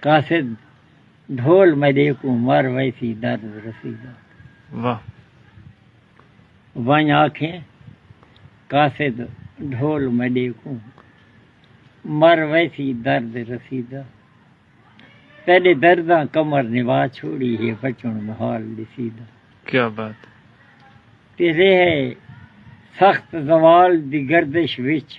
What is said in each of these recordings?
قاصد ڈھول میڈے کوں مر ویسی درد رسیدہ۔ واہ۔ ونڄ آکھیں قاصد ڈھول میڈے کوں مر ویسی درد رسیدہ تیڈے درداں کمر نوا چھوڑی ہے بچݨ محال ݙسیدہ۔ کیا بات۔ تیڈے سخت زوال دی گردش وچ۔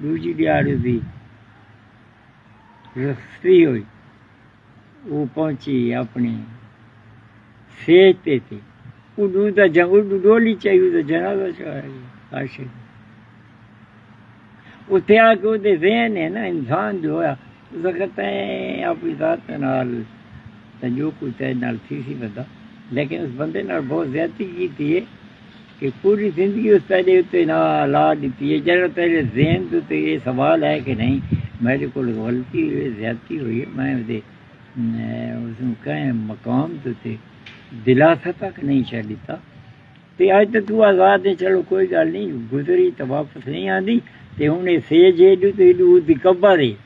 ݙوجھی ݙیہاڑی دی رستی ہوئی او پہنچی اپݨے سیج تے تے اݙو دا جا اݙو ڈولی چائی او دا جنازہ چڑھایا گیا عاشق اتھے آ کے او دے ذہن ہے نا انسان جو ہویا اس وقت اپنی ذات نال جو کچھ ہے نال تھی سی بندہ لیکن اس بندے نال بہت زیادتی کی تھی ہے کہ پوری زندگی اس پہلے اتے لا لا ڈتی ہے جیڑھا تیرے ذہن دے اتے اے سوال ہے کہ نہیں میڈے کول غلطی ہوئی ہے زیادتی ہوئی ہے میں اودے اسوں کہیں مقام دے اتے دلاسہ تک نہیں شہ ڈتا تے اج تے تو آزاد ہے چلو کوئی گل نہیں گزری تے واپس نہیں آندی تے ہن اے سیج ایڈو تے ایڈو اودی قبر ہے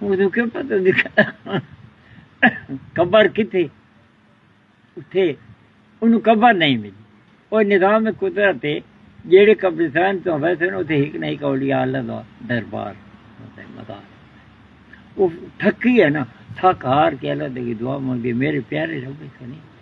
اونوں کیوں پتہ دکھایا قبر کتھے اتھے اونوں قبر نہیں ملی او نظام قدرت ہے جیڑے قبرستان تو ویسے نو تے ہک نہیں کولی اللہ دا دربار ہوتا ہے مدار او تھکی ہے نا تھک ہار کے اللہ دے دعا مانگے میرے پیارے رب سنی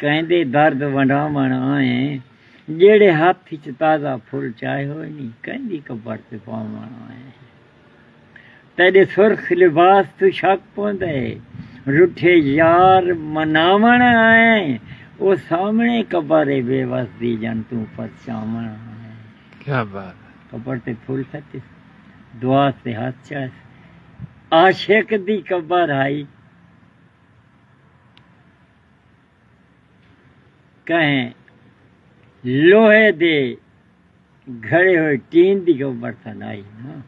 کیندے درد ونڈاوݨ آئیں جیڑھے ہتھ اچ تازہ پھل چائے ہوئے نی کیندی کپڑ تے پاوݨ آئیں تیڈے سرخ لباس توں شک پوندے رٹھے یار مناوݨ آئیں او سامݨے قبر اے بے وس دی جن توں پرچاوݨ آئیں کیا بات اے کپڑ تے پھل سٹیس دعا تے ہتھ چائس عاشق دی قبر ہائی۔ کہیں لوہے دے گھڑے ہوئے ٹین دی کو برتن آئی نا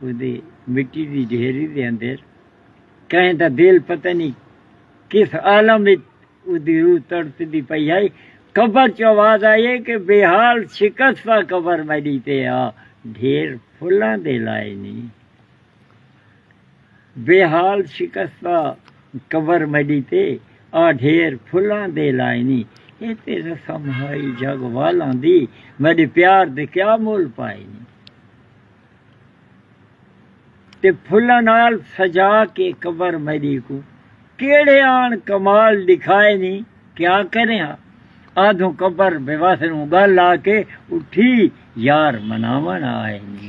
او دی مٹی دی ڈھیری دے اندر کہیں دا دل پتہ نہیں کس عالم وچ او دی روح تڑپ دی پئی آئی قبر چ آواز آئی ہے کہ بے حال شکستہ قبر میڈی تے آ ڈھیر پھلاں دے لائے نہیں بے حال شکستہ قبر میݙی تے آ ڈھیر پھلاں دے لائنی اے تے رسم ہائی جگ والاں دی میݙے پیار دے کیا مول پائنی تے پھلاں نال سجا کے قبر میݙی کوں کیڑھے آن کمال ݙکھائنی کیا کریں ہا آدھوں قبر بے وس نوں گل آ کے اٹھی یار مناوݨ آئنی۔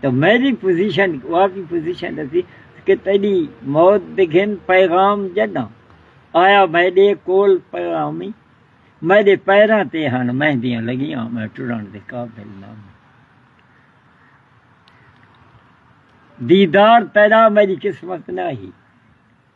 تاں میݙی پوزیشن واقعی پوزیشن اسی کہ تیݙی موت دے گھن پیغام جݙاں آیا میݙے کول پیغامی میݙے پیراں تے ہݨ مہندیاں لڳیاں میں ٹرݨ دے قابل نہ میں دیدار تیݙا میݙی قسمت نہ ہی